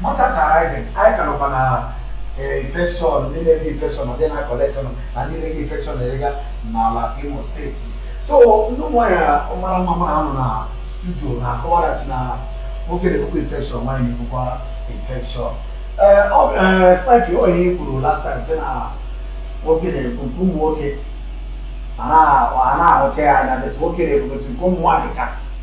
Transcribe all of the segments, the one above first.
Mothers are rising. I can open a infection, needed infection, and then I collect on and needed infection area n'ala Imo State. So no more ọmara mama ahụ na studio na-akọwa that na nwoke na-ebukwa infection nwaanyị na-ebukwa infection. Spife ọ ihe kwuru last time sị na nwoke na-ebu nke ụmụ nwoke a na-ahụcha ya anya but nwoke na-ebukwa nke ụmụ nwaanyị ka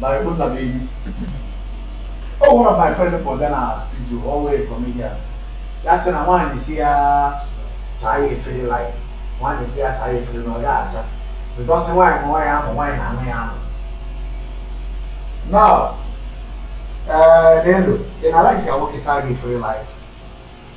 na Igbo nna m enyi o one of my friend pụta na studio ọ wụ a comedian ya sị na nwaanyị sị ya saa ya efere like nwaanyị sị ya saa ya efere na ọ ya asa because nwaanyị ma nwaanyị ahụ nwaanyị na-anụ ya ahụ now ee n'elu ị na-alike ka nwoke saa gị efere like